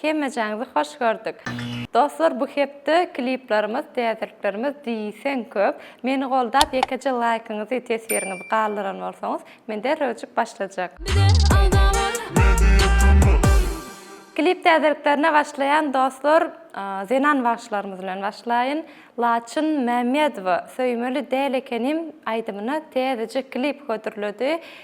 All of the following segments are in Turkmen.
Hemmejaňyzy hoş gördük. Dostlar bu hepde kliplarymyz täzeliklerimiz diýseň köp. Meni goldap ýekeje laýkyňyzy teswiriňizi galdyran bolsaňyz men derrew öçüp başlajak. Klip täzeliklerine başlaýan dostlar zenan bagşylarymyz bilen başlaýyn. Laçyn Mämmedowa Söýmeli däl ekenim aýdymyna täzeje klip hödürledi.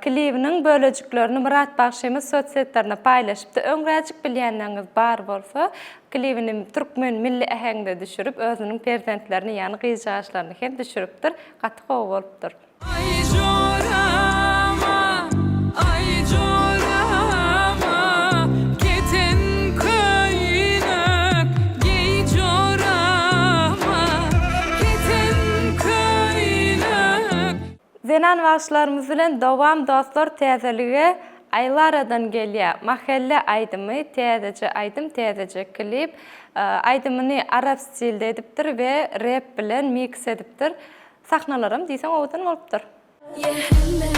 Klibiň bölejiklerini Myrat bagşymyz sosýetlerinde paýlaşypdy. Öňräjik bilýänleriňiz bar bolsa, klibini türkmen milli äheňinde düşürip, özüniň perzentlerini, ýagny gyzjagaşlaryny hem düşüripdir. Gaty gowy bolupdyr. Aý jorama, aý jorama, keten köýnek geý jorama, keten köýnek. Zenan bagşylarymyz bilen dowam dostlar täzelige Aýlaradan gelýä Mahelle aýdymy täzeje aýdym täzeje klip aýdymyny arap stilde edipdir we rep bilen miks edipdir sahnalaram diýseň owadan bolupdyr. Ye helle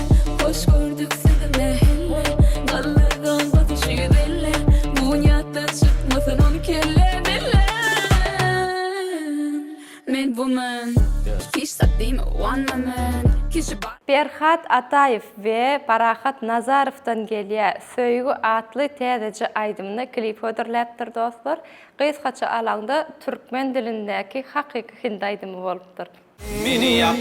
hoş gördük sizi me helle Galler gan batyşy belle Bunýatdan çykmasyn on kelle belle. Men woman Hiç zat diýme one my man Kişi bar. Perhat Ataýew we Parahat Nazarowdan gelýä söýgi atly täzeje aýdymyny klip hödürläpdir dostlar. Gysgaça alaňda türkmen dilindäki hakyky hindi aýdymy bolupdyr. Meni ýak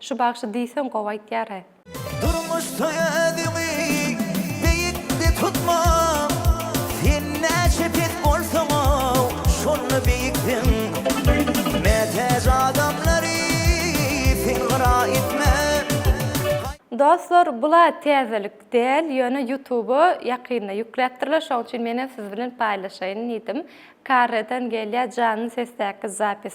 Şu bagşy diýseň gowy aýtýar-a. Durmuş toýa özüňi beýikde tutma, Sen näçe pes bolsaň-ow, şonda beýiksiň. Mätäç adamlary sen gyra etme. Dostlar bula täzelik däl ýöne ýutuba ýakynda ýükläpdirler şoň üçin menem siz bilen paýlaşaýyn diýdim. Karreden gelýä janly sesdäki zapis.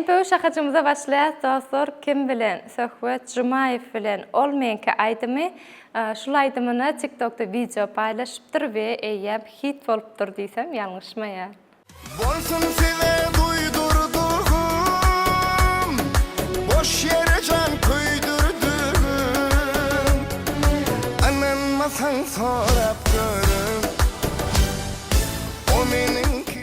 MPU şahajymyza başlaýas dostlar kim bilen Söhbet Jumaýew bilen ol meňki aýdymy şul aýdymyny tiktokda wideo paýlaşypdyr we eýýäm hit bolupdyr diýsem ýalňyşmaýan. Bolsun size duýdurdugym boş ýere jan köýdürdigim ynanmasaň sorap görüň o meniňki.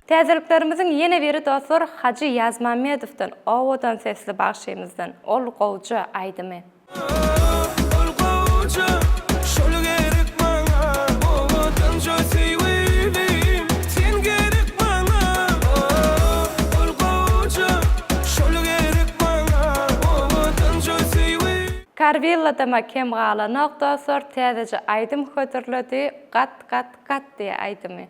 Täzeliklerimiziň ýene biri dostlar Hajy Ýazmämmedowdan owadan sesli bagşymyzdan Ol gowja aýdymy. Oh, ol gowja, şol gerek maňa, Owadanja söýgülim, sen gerek maňa. Oh, ol gowja, şol gerek maňa, Owadanja söýgülim. Karwilladama kem galanok dostlar täzeje aýdym hödürledi Gat gat gat diýe aýdymy.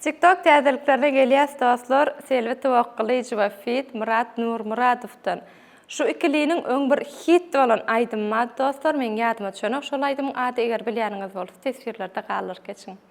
TikTok täzeliklerine gelýäs dostlar, Selbi Towakgylyjowa feat Myrat Nurmyradowdan. Şu ikiliniň öň bir hit bolan aýdymy bar dostlar, meň ýadyma çönok şol aýdymyň ady eger bilýäniňiz bolsa teswirlerde galdyryp geçiň.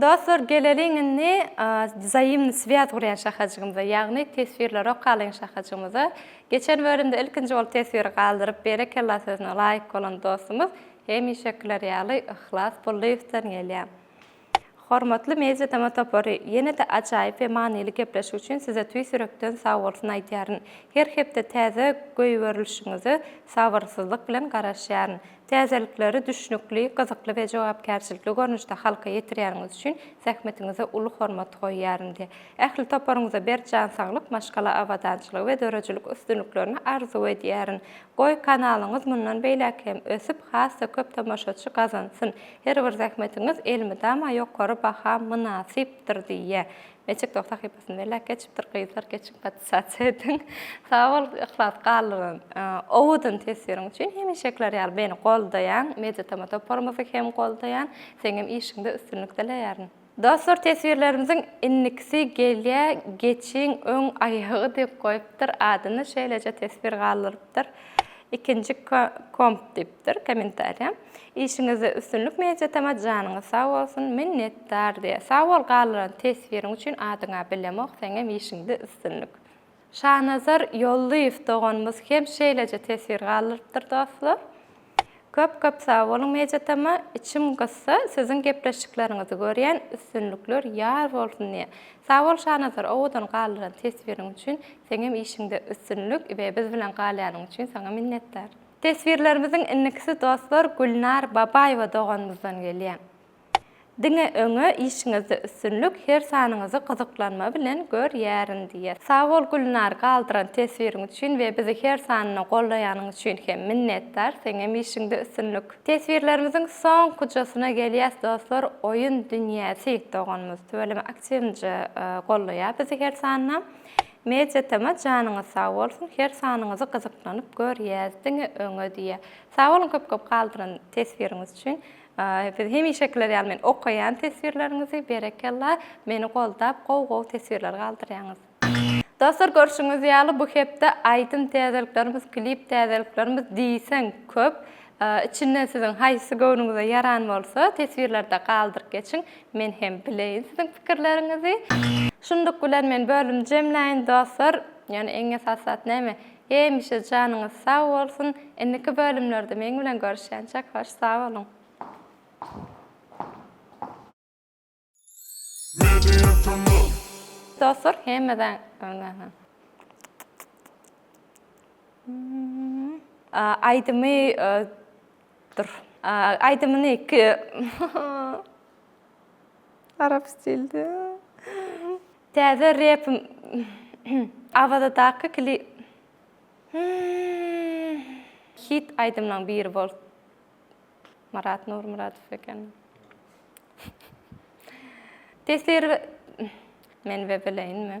Dostlar geleliň indi wzaýymny swýaz gurýan şahajygymyza ýagny teswirleri okalyň şahajygymyza. Geçen bölümde ilkinji bolup teswiri galdyryp berekella sözüne laýyk bolan dostumyz hemişekiler ýaly Yhlas Bullyýewden gelýär. Hormatly Media Tama topary ýene-de ajaýyp we manyly gepleşik üçin size tüýs ýürekden sagbolsun aýdýaryn. Her hepde täze goýberilişiňize sabyrsyzlyk bilen garaşýaryn. Täzelikleri düşnükli, gyzykly we jogapkärçilikli görnüşde halka ýetirýäniňiz üçin zähmetiňize uly hormat goýýaryn diýip, ähli toparyňyza berk jan saglyk, maşgala abadançylygy we döredijilik üstünliklerini arzuw edýärin. Goý, kanalyňyz mundan beýläk hem ösüp, has-da köp tomaşaçy gazansyn. Her bir zähmetiňiz elmydama ýokary baha mynasypdyr diýýä. TikTok sahypasyn belläp geçipdir gyzlar geçiň podsasiýa ediň. Sag bol Yhlas galdyran owadan teswiriň üçin. Hemişekiler ýaly meni goldaýaň, Mediatama toparymyzy hem goldaýan. Seňem işiňde üstünlik dileýärin. Dostlar teswirlerimiziň indikisi gelýä geçiň öň aýagy diýip goýupdyr adyny şeýleje teswir galdyrypdyr ikinji komp diýipdir kommentariýa. Işiňizde üstünlik Mejitama janyňyz sag bolsun minnetdar diýä sag bol galdyran teswiriň üçin adyňa bilemok seňem işiňde üstünlik. Şanazar Ýollyýew doganymyz hem şeýleje teswir galdyrypdyr dostlar. Köp köp sag boluň Mejitama içim gyssa siziň gepleşikleriňizi görýän üstünlikler ýar bolsun diýä sag bol Şanazar owadan galdyran teswiriň üçin seňem işiňde üstünlik we biz bilen galýanyň üçin saňa minnetdar. Teswirlerimiziň indikisi dostlar Gülnar Babaýewa doganymyzdan gelýä. Diňe öňe işiňizde üstünlik her sanyňyzy gyzyklanma bilen gör ýärin diýer. Sag bol Gülnar galdyran teswiriň üçin we bizi her sanyna gollaýanyň üçin hem minnetdar seňem işiňde üstünlik. Teswirlerimiziň soňkujasyna gelýäs dostlar Oýun dünýäsi doganymyz tüweleme aktiwinje gollaýa bizi her sanyna. Media TM janyňyz sag bolsun her sanyňyzy gyzyklanyp görýäs diňe öňe diýä. Sag boluň köp köp galdyran teswiriňiz üçin. Biz hemişekiler ýaly men okaýan teswirleriňizi berekella meni goldap gowy gowy teswirler galdyrýaňyz. Dostlar görşüňiz ýaly bu hepde aýdym täzeliklerimiz klip täzeliklerimiz diýseň köp. Içinden siziň haýsysy göwnüňize ýaran bolsa teswirlerde galdyryp geçiň. Men hem bileýin siziň pikirleriňizi. Şunluk bilen men bölüm jemläýin dostlar. Ýöne iň esas zat näme? Hemişe janyňyz sag bolsun. Indiki bölümlerde meň bilen görüşýänçäk hoş sag boluň. Media kanal. Dostlar hemeden öňe. Aýdymy. Dur. Aýdymyny ki Arap stilde. Täze rep Awazadaky kli Hit aýdymlaň biri bol. Marat Nurmyradow eken. Tesir Men we bileýinmi?